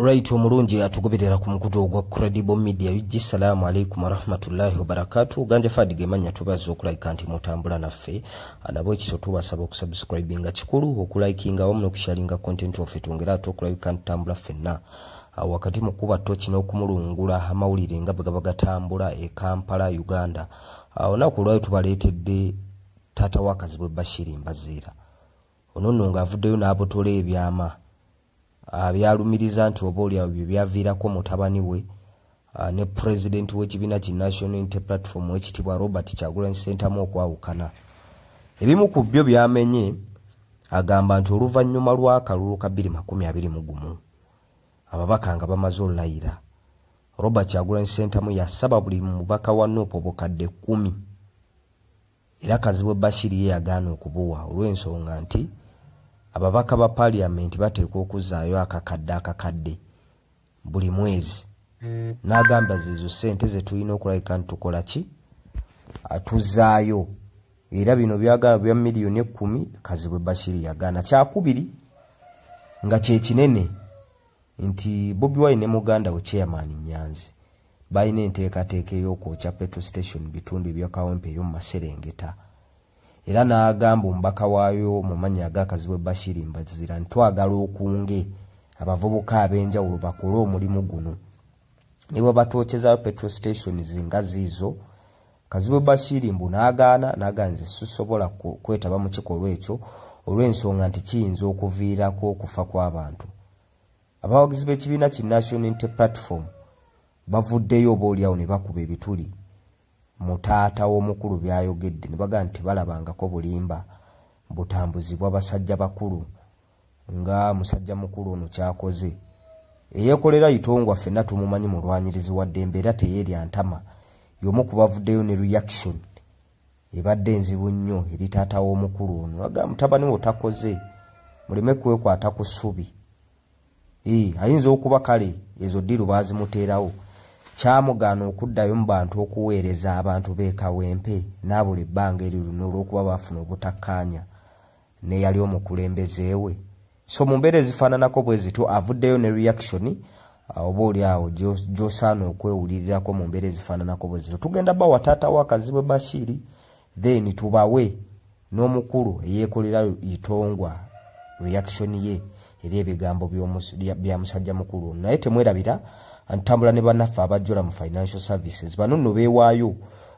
right omulungi atugoberera ku mukutu ogwa credible media ug salaamu aleikum warahmatullahi wabarakatu ganja fadi gemanya tubaza okulabika nti mutambula naffe anabo ekiso tubasaba okusubscribe nga kikulu okulikinga wamu nokusharinga content waffe tungera ate okulabika nti tambula ffenna Ah, wakati mu kuba toki n'okumulungula amawulire nga bwe gaba gatambula e kampala uganda ah, olunaku olwayo tubaleetedde taata wakazibwe bashiri mbaziira ono nno ng'avuddeyo n'abotola ebyama abyalumiriza nti oba olyawo bye byaviirako mutabani we ne pulezidenti w'ekibiina ki national inte platform ekitibwa robert kyagulanyi ssentamu okwawukana ebimu ku byo byamenye agamba nti oluvannyuma lw'akalulu ka 221 ababaka nga bamaze olulayira robert kyagulanyi ssentamu yasaba buli mubaka wa nuupu obukadde 1 era kazibwe bashir ye yagaana okubuwa olw'ensonga nti ababaka ba paliyamenti bateekwa okuzaayo akakadde akakadde buli mwezi n'agamba zezo sente zetulina okulabika nti tukola ki atuzaayo era bino byagala bya miliyoni ekkumi kazibwe bashir yagaana kyakubiri nga kyekinene nti bobi wine ne muganda we chairman nyanzi balina enteekateeka ey'okwokya petrol station mu bitundu ebyakawempe eyo mu maserengeta era n'agamba omubaka waayo mu mannya agakazibwe bashiri mbazira nti twagala okunge abavubuka ab'enjawulo bakole omulimu guno ne bwe batwokyezayo petrol stations nga ziizo kazibwe bashiri mbu n'agaana n'agaa nze sisobola kwetaba mu kikolwa ekyo olw'ensonga nti kiyinza okuviirako okufa kw'abantu abawagizi b'ekibiina ki national inte platform bavuddeyo oba olyawo ne bakuba ebituli mu taata w'omukulu byayogedde ne bagaa nti balabangako bulimba butambuzibwa basajja bakulu nga musajja mukulu ono kyakoze eyekolera itongwa fenna tumumanyi mulwanyirizi wa ddembe era teyeerya ntama yomu kubavuddeyo ne reaction ebadde nzibu nnyo eri taata w'omukulu ono aga mutabani wo takoze muleme kwekwata ku ssubi ee ayinza okuba kale ezo ddiiru baazimuteerawo kyamugaana okuddayo mu bantu okuweereza abantu b'ekawempe n'abuli bbanga eri luno olw'okuba baafuna obutakkaanya neyali omukulembeze we so mu mbeera ezifaananako bwe zityo avuddeyo ne reaction uh, oba oli awo gyosaana okwewulirirako mu mbeera ezifaananako bwe zityo tugenda bawa taata wa kazibwe bashiri then tubawe n'omukulu eyeekolera itongwa reaction ye eri ebigambo bya musajja mukulu naye temwerabira ntambula ne banaffe abajjula mu financial services bano nno beewaayo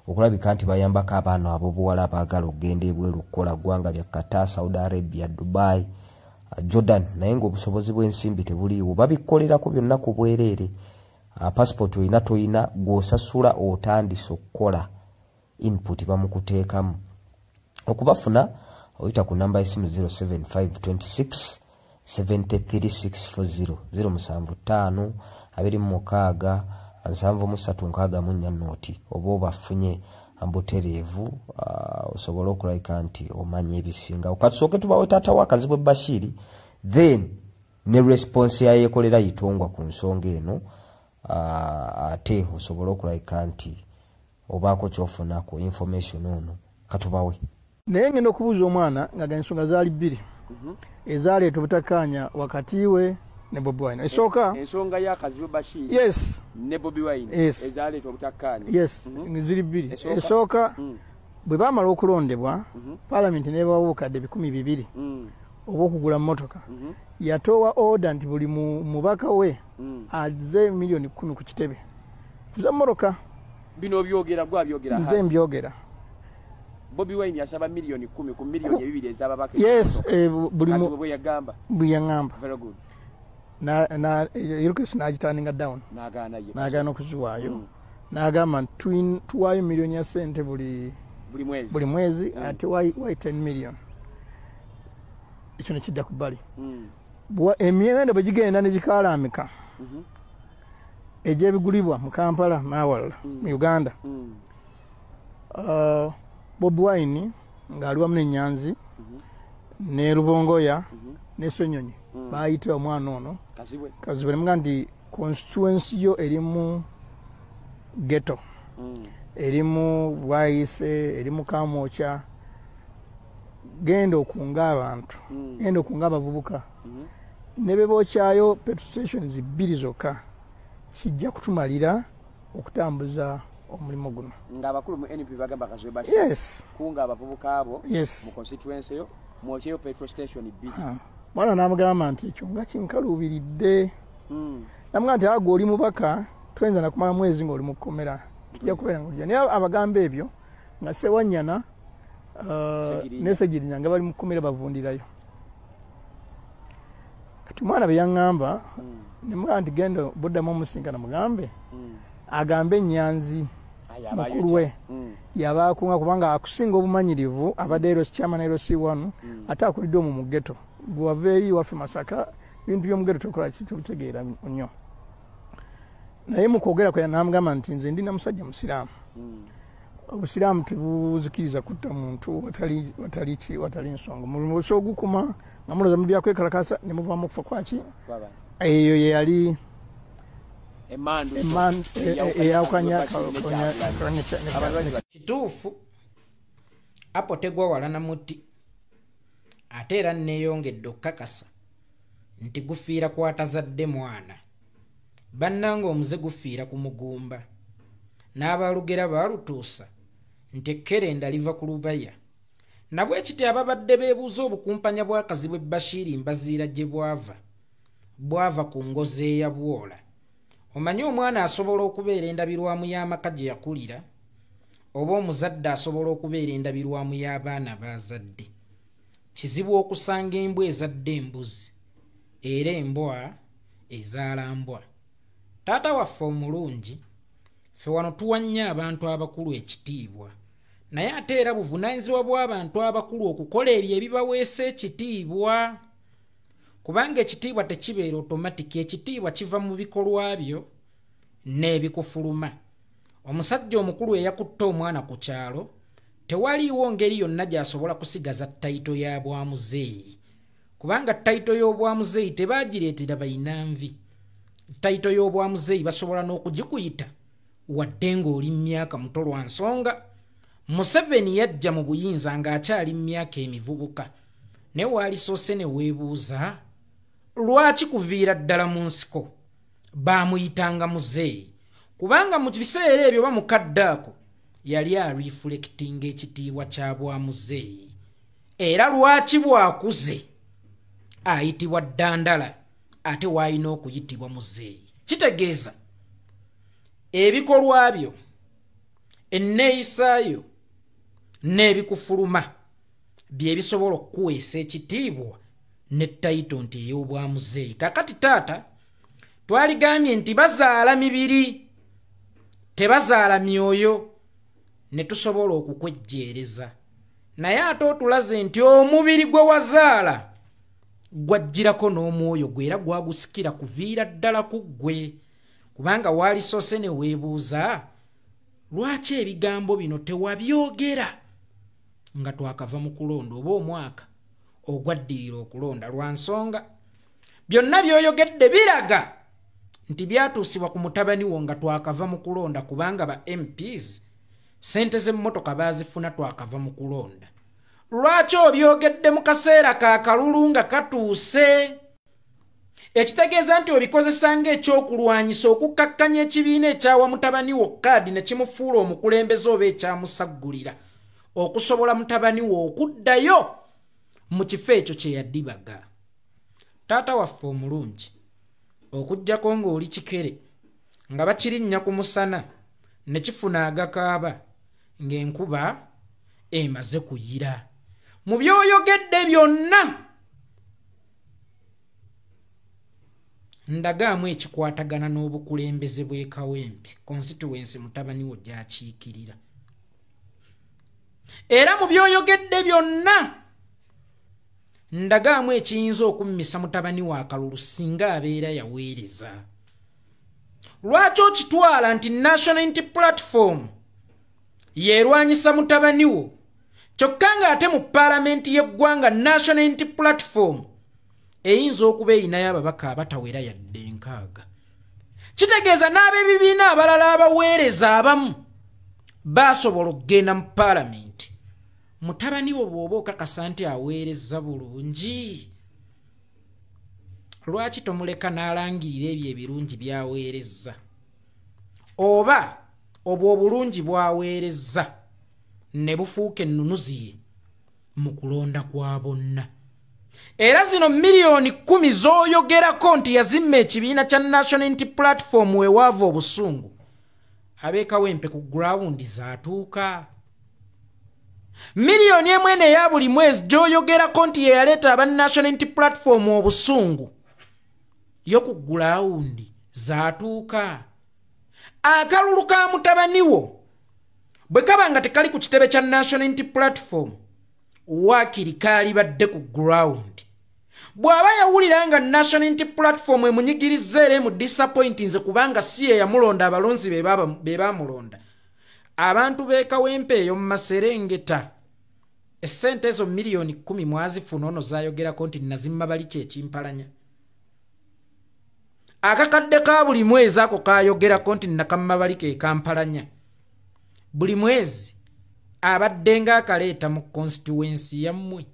okulabika nti bayambako abaana abobuwala abaagala okugenda ebweru okukola ggwanga lya kata saudi arabia dubai uh, jordan naye ngaobusobozi bw'ensimbi tebuliiwo babikolerako byonna ku bwereere uh, passport olina tolina gwosasula otandise okukola input bamukuteekamu okubafuna oyita ku namba yesimu 07526 73640 075 abiri mu mukaaga nsanvu mu ssatu nkaaga mu nnya nooti oba obafunye mbutereevu uh, osobole okulabika nti omanya ebisinga katusooke tubawe taata wa kazibwe bashiri then ne response yayekolera yitongwa ku nsonga eno uh, ate osobole okulabika nti obaako kyofuna ku information ono katubawe naye ngenda okubuuza omwana nga ensonga zaali bbiri mhm. ezaaleeta obutakaanya wakati we ne bobi wine esooka eh, ensonga ya kazibu bashir yes ne bobi wine yes. ezaaleeta obutakaanya yes mhm. ziri bbiri esooka mm. bwe baamala okulondebwa mhm. palamenti nebawa obukadde ebikumi bibiri mm. obwokugula motoka yatoowa oda nti buli mubaka we mm. aze miliyoni kumi ku kitebe nze moroka bino obyogera gwe abyogera nze mbyogera bobi wine yasaba miliyoni kumi ku miliyoni ebibiri ezababaka yes eh, bulimubwe yagamba bwe yagamba very good yirukisi nagitandinga down nagaana okuziwaayo mm. nagamba nti tuwaayo miliyoni ya sente buli buli mwezi mm. ate wai 10 million ekyo nekidda ku bbali mm. emiwendo bwegigenda negikalaamika mm-hmm. egyebigulibwa mu kampala n'awalala mm. mu uganda mm. uh, bob wine ng'ali wamu nenyanzi mm-hmm. ne lubongoya mm-hmm. ne senyonyi mm. baayita omwana ono kazibwe nemuga nti constituensi yo erimu geto erimu bwayise erimu kamwokya genda okunga abantu genda okunga abavubuka mhm. ne be bookyayo petrol stations bbiri zokka kijja kutumalira okutambuza omulimu guno ngaabakulu mu np bagamba kazwebas kunga abavubuka abo mu constituency yo mwokyeyo petrol station bbiri mwana namugamba nti ekyo nga kinkaluubiridde hmm. namuga nti agwe oli mubaka toyinza nakumala mwezi ngaoli mu kkomera tujja kubeera nga naye abagamba ebyo nga sewanyana uh, nesegirinya nga bali mu kkomera bavundirayo kati mwana byeyaŋŋamba hmm. nemwa nti genda buddamu omusinkana mugambe hmm. agambe enyanzi mukulu we hmm. yaba akunga kubanga akusinga obumanyirivu abadde ero kyama naero si wanu ate akulidde omu mu geto gwewaveeri waffe masaka ebintu byomugeto tokola kitutegeera nnyo naye mukwogera kwe namugamba nti nze ndi namusajja musiraamu hmm. obusiraamu tebuzikiriza kutta muntu watali nsonga musa ogukuma nga muloza mu byakwekalakasa ne muvamu okufa kwaki eyo yeyali eyawukanya kituufu apo tegwa wala na muti ate era neyongedde okukakasa nti gufiira kwatazadde mwana bannanga omuze gufiira ku mugumba n'abalugera baalutuusa nti ekkerenda liva ku lubaya nabwe kiti ababadde beebuuza obukumpanya bw'akazi bwe bashiiri mbaziira gye bwava bwava ku ngozi eyabwola omanyi omwana asobola okubeera endabirwamu y'amaka gye yakulira oba omuzadde asobola okubeera endabirwamu y'abaana baazadde kizibu okusanga embwa ezadde embuzi era embwa ezaala mbwa taata waffe omulungi ffe wano tuwa nnyo abantu abakulu ekitiibwa naye ate era buvunaanyizibwa bw'abantu abakulu okukola ebyo ebibaweesa ekitiibwa kubanga ekitiibwa tekibeera otomatiki ekitiibwa kiva mu bikolwa byo n'ebikufuluma omusajja omukulu eyakutte omwana ku kyalo tewaliiwo ngeri yonna gy'asobola kusigaza tayito ya bwamuzeeyi kubanga tayito y'obwamuzeeyi tebaagireetera balina nvi tayito y'obwamuzeeyi basobola n'okugikuyita wadde ng'oli mu myaka muto lwa nsonga museveni yajja mu buyinza ng'akyali mu myaka emivubuka naye waalisoose ne weebuuza lwaki kuviira ddala mu nsiko baamuyitanga muzeeyi kubanga mu biseera ebyo oba mukadde ako yali arifulekitinga ekitiibwa kya bwa muzeeyi era lwaki bw'akuze ayitibwa ddandala ate waalina okuyitibwa muzeeyi kitegeeza ebikolwa byo enneeyisaayo n'ebikufuluma byebisobola okukuweesa ekitiibwa ne tayito nti ey'obwamuzeeyi kakati taata twaligambye nti bazaala mibiri tebazaala myoyo ne tusobola okukwejjeereza naye ate otulaze nti omubiri gwe wazaala gwajjirako n'omwoyo gwe era gwagusikira kuviira ddala ku ggwe kubanga waalisoose ne weebuuza lwaki ebigambo bino tewabyogera nga twakava mu kulonda oba omwaka ogwaddirira okulonda lwa nsonga byonna byoyogedde biraga nti byatuusibwa ku mutabani wo nga twakava mu kulonda kubanga ba mps sente z'emmotoka baazifuna twakava mu kulonda lwaki obyogedde mu kaseera ka kalulu nga katuuse ekitegeeza nti obikozesa ng'ekyokulwanyisa okukkakkanya ekibiina ekyawa mutabani wo kaadi ne kimufuula omukulembeze oba ekyamusaggulira okusobola mutabani wo okuddayo mu kifo ekyo kye yadibaga taata waffe omulungi okuggyako ng'oli kikere nga bakirinnya ku musana ne kifuna agakaaba ng'enkuba emaze kuyira mu byoyogedde byonna ndagaamu ekikwatagana n'obukulembeze bw'ekawempe konsituwensi mutabani wo gyakiikirira era mu byoyogedde byonna ndagaamu ekiyinza okummisa mutabani wa kalulu singa abeera yaweereza lwaki okitwala nti national inti platform yeerwanyisa mutabani wo kyokka ng'ate mu paalamenti y'eggwanga national unity platform eyinza okuba erinayo ababaka abatawera yadde enkaaga kitegeeza n'ab'ebibiina abalala abaweereza abamu baasobola okugenda mu paalamenti mutabani wo bw'oba okakasa nti aweereza bulungi lwaki tomuleka n'alangirira ebyo ebirungi by'aweereza oba obwo obulungi bwaweerezza ne bufuuka ennunuzi ye mu kulonda kwa bonna era zino miliyoni kumi z'oyogerako nti yazimma ekibiina kya national nti platform wewaava obusungu abeekawempe ku gurawundi zaatuuka miliyoni emu eno eya buli mwezi gy'oyogerako nti ye yaleeta aba national nti platform obusungu yo ku gulawundi zaatuuka akalulu ka mutabani wo bwe kaba nga tekali ku kitebe kya national inti platform waakiri kaalibadde ku gulawundi bw'aba yawulira nga national inti platform emunyigirizza era emu disappointinze kubanga si ye yamulonda abalonzi be baamulonda abantu beekawempe eyo mu maserengeta essente ezo miliyoni kkumi mwazifuna ono zayogerako nti nazimma bali kyekimpalanya akakadde ka buli mwezi ako kayogerako nti nakamma bali kekampalanya buli mwezi abadde nga akaleeta mu konsituwensi yammwe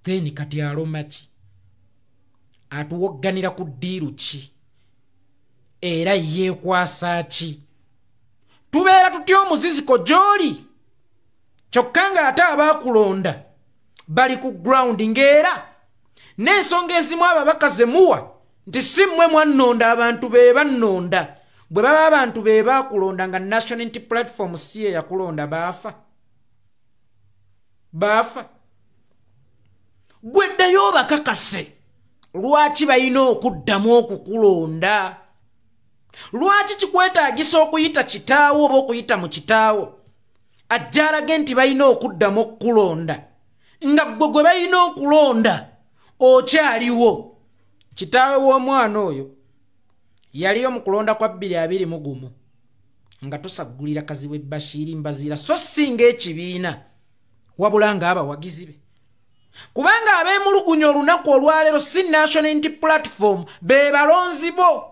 then kati alomaki atuwogganira ku ddiiru ki era yeekwasa ki tubeera tutya omuziziko gy'oli kyokka ng'ate abaakulonda bali ku ground ng'era n'ensonga ezimu ababaka ze muwa nti si mmwe mwannonda abantu be bannonda bwe baba abantu be baakulonda nga national nti platform si ye yakulonda baafa baafa gwe ddayo obakakase lwaki balina okuddamu okukulonda lwaki kikwetaagisa okuyita kitaawo oba okuyita mu kitaawo ajjalage nti balina okuddamu okukulonda nga ggwe gwe balina okulonda okyaliwo kitaawe w'omwana oyo yaliyo mu kulonda kwa bbiri abiri mu gumu nga tusaggulira kazibwe bashiiri mbaziira so si ngaekibiina wabula ng'abawagizi be kubanga abeemulugunya olunaku olwaleero si national inti platform be balonzi bo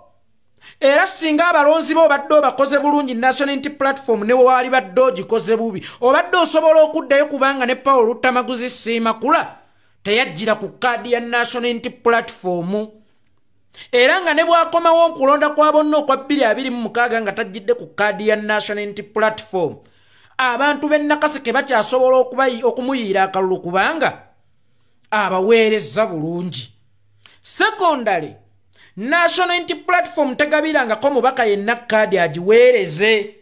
era singa abalonzi bo obadde obakoze bulungi national inti platform ne waali badde ogikoze bubi obadde osobola okuddayo kubanga ne paul luttamaguzi siimakula teyajjira ku kaadi ya national inti platformu era nga ne bwakomawo nkulonda kwa bonna okwa 226 nga tajjidde ku kaadi ya national unity platform abantu b'e nakaseke bakyasobola okumuyiira akalulu kubanga abaweereza bulungi sekondale national unity platform tegabirangako mubaka yenna kaadi agiweereze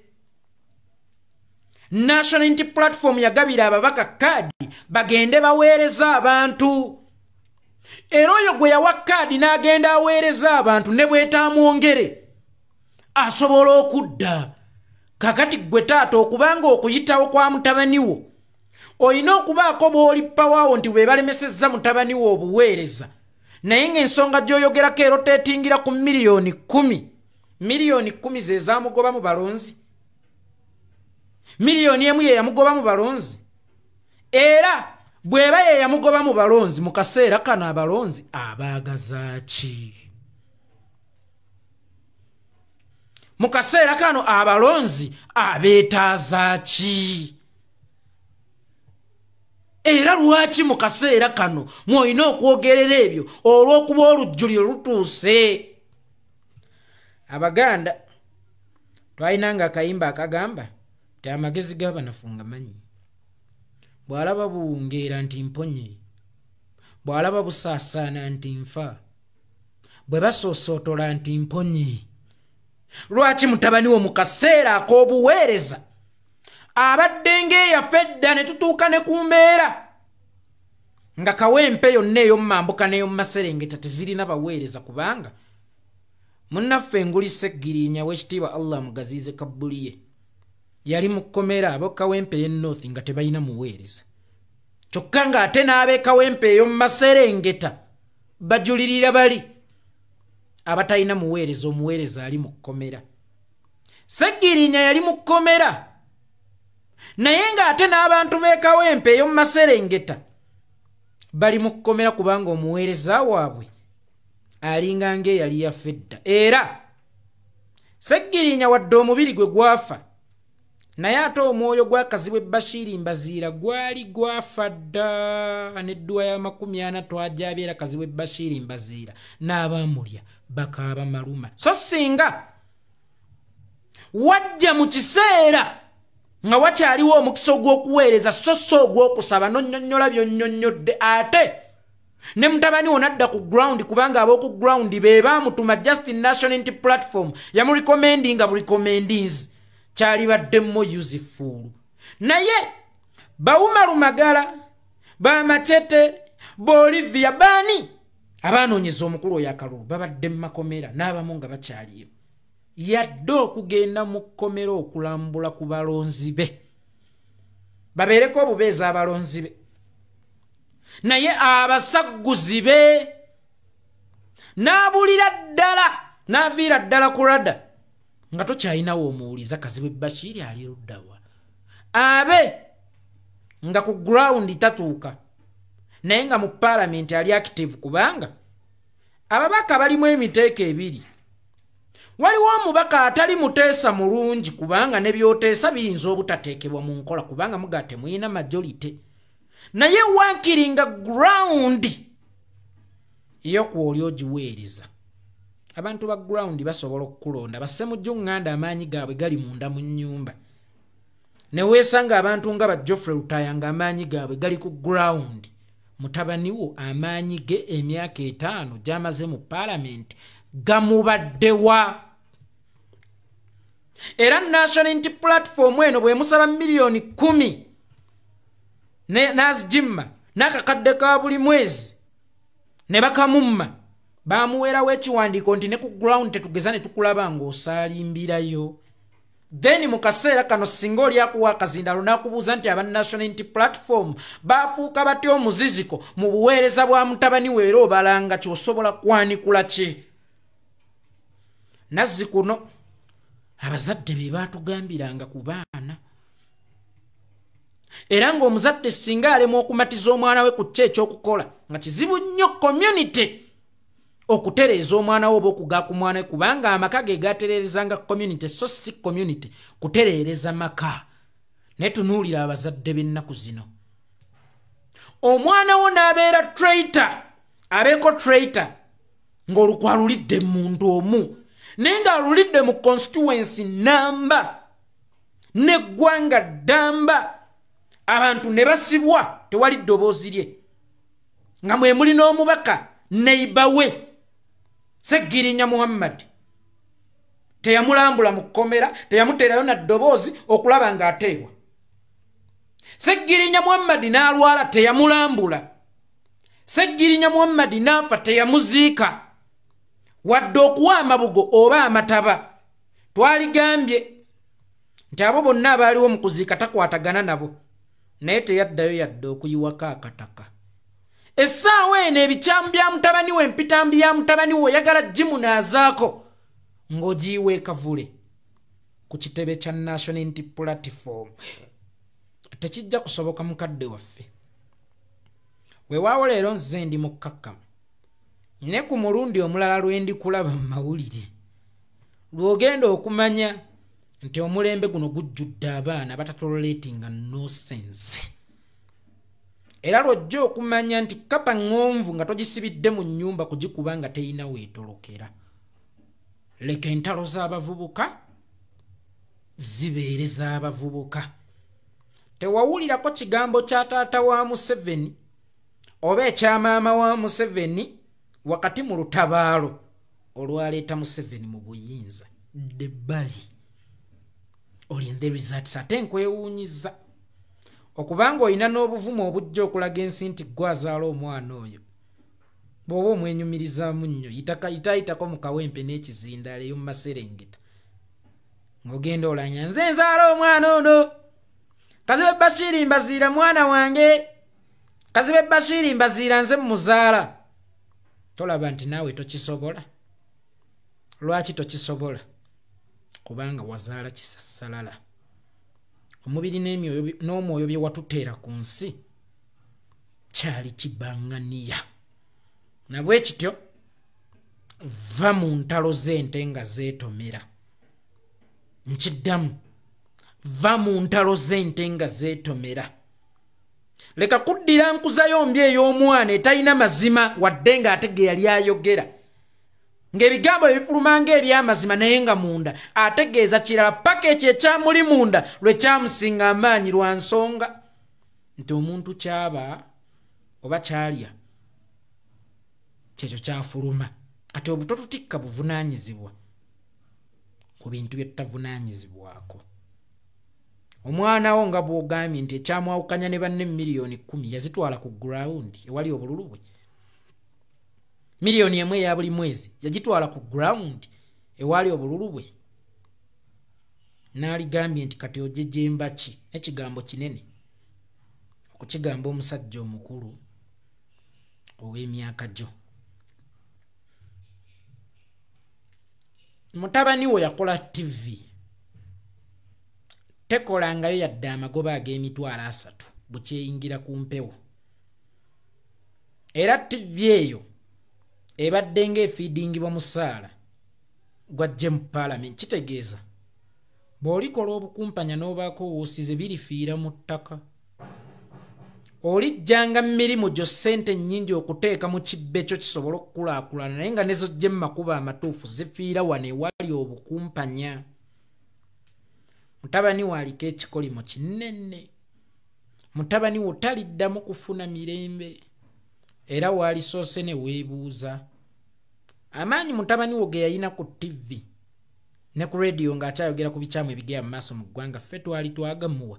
national unity platform yagabira ababaka kaadi bagende baweereza abantu era oyo gwe yawa kaadi n'agenda aweereza abantu ne bwetaamwongere asobola okudda kakati ggwe taata okubanga okuyitawo kwa mutabani wo olina okubaako bw'oli pawaawo nti bwe balemesezza mutabani wo obuweereza naye ng'ensonga gy'oyogerako era oteetingira ku miliyoni kkumi miliyoni kkumi ze zaamugoba mu balonzi miliyoni emu ye yamugoba mu balonzi era bw'eba ye yamugoba mu balonzi mu kaseera kano abalonzi abaagazaaki mu kaseera kano abalonzi abeetaazaaki era lwaki mu kaseera kano mwolina okwogerera ebyo olw'okuba olujjuli olutuuse abaganda twalina nga akayimba akagamba ti amagezi g'abanafunga manyi bw'alaba buwungeera nti mponye bw'alaba busaasaana nti nfa bwe basoosootola nti mponye lwaki mutabani wo mu kaseera ak'obuweereza abadde ng'eyafa edda ne tutuuka ne ku mbeera nga kawempe yonna ey'omumambuka n'ey'omumaserengeta tezirina baweereza kubanga munnaffe engulisa eggirinya w'ekitiibwa allah mugaziize kabbuli ye yali mu kkomera ab'ekawempe ey'e north nga tebalina muweereza kyokka ng'ate n'ab'ekawempe eyo mu maserengeta bajulirira bali abatalina muweereza omuweereza ali mu kkomera seggirinya yali mu kkomera naye ng'ate n'abantu b'ekawempe eyo mu maserengeta bali mu kkomera kubanga omuweereza waabwe alinga ng'eyali yaffe edda era seggirinya wadde omubiri gwe gwafa naye ate omwoyo gwakazibwa ebashiiri mbaziira gwali gwafa dda nedduwa y'amakumi ana twajabyera kazibwa ebashiiri mbaziira n'abaamulya bakaaba maluma so singa wajja mu kiseera nga wakyaliwo omukisa ogw'okuweereza so si ogw'okusaba nonyonyola byonyonyodde ate ne mutabani wo nadda ku ground kubanga ab'oku ground be baamutuma just nationality platform yamurecommendinga burecommendings kyalibaddemmo useful naye bawumalu magala bamacete bolivia baani abaanoonyeza omukulu oyo akalulu babadde mu makomera n'abamu nga bakyaliyo yadde okugenda mu kkomera okulambula ku balonzi be babeereko obubeezi abalonzi be naye abasagguzi be n'abulira ddala n'aviira ddala ku rada nga tokyalinawo omuwuliza kazibwe bashiiri ali luddawa abe nga ku gurawundi tatuuka naye nga mu paalamenti ali akitivu kubanga ababaka balimu emiteeko ebiri waliwo omubaka atali muteesa mulungi kubanga ne byoteesa biyinza obutateekebwa mu nkola kubanga muga temulina majolite naye wankiri nga ground yokwooli ogiweereza abantu ba ground basobola okukulonda basemujjo nganda amaanyi gaabwe gali munda mu nyumba neweesanga abantu nga ba joffrey lutaya nga amaanyi gaabwe gali ku ground mutabaniwo amaanyi ge emyaka etaano gyamaze mu paalamenti gamubaddewa era national inti platform eno bwemusaba miliyoni kumi n'azijimma n'akakadde ka buli mwezi ne bakamumma baamuweerawo ekiwandiiko nti ne ku ground tetugeza ne tukulaba ng'osaalimbirayo then mu kaseera kano singa oli akuwa akazindalo n'akubuuza nti aba national inti platform baafuuka batya omuziziko mu buweereza bwa mutabani weera obalanga kyosobola kwanikula ki nazzi kuno abazadde be baatugambiranga ku baana era ng'omuzadde singa alemwa okumatiza omwana we ku kyo ekyokukola nga kizibu nnyo community okutereeza omwana we oba okuga ku mwana we kubanga amaka ge gatereerezanga community so si community kutereereza maka naye tunuulira abazadde b'ennaku zino omwana wo n'abeera traita abeeko traita ng'olukwa lulidde mu muntu omu naye ng'alulidde mu constituency namba neggwanga ddamba abantu ne basibwa tewali ddoboozi lye nga mwe muli n'omubaka neiba we seggirinya muhammadi teyamulambula mu kkomera teyamuteerayo na ddoboozi okulaba ng'ateebwa seggirinya muhammadi n'alwala teyamulambula seggirinya muhammadi n'afa teyamuziika wadde okuwa amabugo oba amataba twaligambye nti abo bonna abaaliwo mu kuziika takwatagana nabo naye teyaddayo yadde okuyiwako akataka essaawa eno ebikyamu bya mutabani we empitambi ya mutabani we oyagala gimunaazaako ng'ogiyiwa ekavule ku kitebe kya national inti platform tekijja kusoboka mukadde waffe wewaawo leero nze ndi mukkakkamu ne ku mulundi omulala lwe ndikulaba mu mawulire lwogenda okumanya nti omulembe guno gujjudde abaana batatololetinga nosense era lwojja okumanya nti kapa ŋŋonvu nga togisibidde mu nnyumba kugikuba nga teyina weetolokera leka entalo z'abavubuka zibeere z'abavubuka tewawulirako kigambo kya taata wa museveni oba ekyamaama wa museveni wakati mu lutabaalo olwaleeta museveni mu buyinza dde bali olinde results ate nkwewuunyiza okubanga olina n'obuvumu obujja okulaga ensi nti gwe azaala omwana oyo bw'oba omwenyumirizaamu nnyo yitayitako mu kawempe n'ekizindaala eyo mu maserengeta ng'ogenda olanya nze nzaala omwana ono kazibe bashiri mbaziira mwana wange kazibe bashiri mbaziira nze mu muzaala tolaba nti naawe tokisobola lwaki tokisobola kubanga wazaala kisasalala omubiri n'omwoyo bye watuteera ku nsi kyali kibanganiya nabwe kityo va mu ntalo z'ente nga zeetomera nkiddamu va mu ntalo z'ente nga zeetomera leka kuddira nkuzayo mbi ey'omwana etalina mazima wadde ng'ate ge yali ayogera ng'ebigambo ebifuluma ng'ebyamazima naye nga munda ategeeza kirala paka ekyo ekyamuli munda lwe kyamusinga amaanyi lwa nsonga nti omuntu kyaba oba kyalya kyekyo kyafuluma kati obuto tutikka buvunaanyizibwa ku bintu bye tutavunaanyizibwako omwana wo nga bwogambye nti ekyamwawukanya ne banne miliyoni kumi yazitwala ku ground ewali obululu bwe miliyoni emu eya buli mwezi yagitwala ku ground ewaali obululu bwe n'aligambye nti kati ojejemba ki nekigambo kinene okukigamba omusajja omukulu ow'emyaka gyo mutabani wo yakola ttivi tekolangayo yadde amagoba ag'emitwalo asatu bukyeyingira ku mpewo era ttivi eyo ebadde ng'efiidingibwa musaala gwajje mu paalamenti kitegeeza bw'olikola obukumpanya n'obaako w'osize birifiira mu ttaka olijjanga mu mirimu gyo ssente nnyingi okuteeka mu kibbe kyo kisobole okukulaakulana naye nga nezojje mu makubo amatuufu zifiira wano ewali obukumpanya mutabani wo aliko ekikolimo kinene mutabani wo taliddamu kufuna mirembe era waalisoose ne weebuuza amaanyi mutabani wo ge yalina ku ttivi ne ku rediyo ng'akyayogera ku bikyamu ebigera mu maaso mu ggwanga ffe twali twagamuwa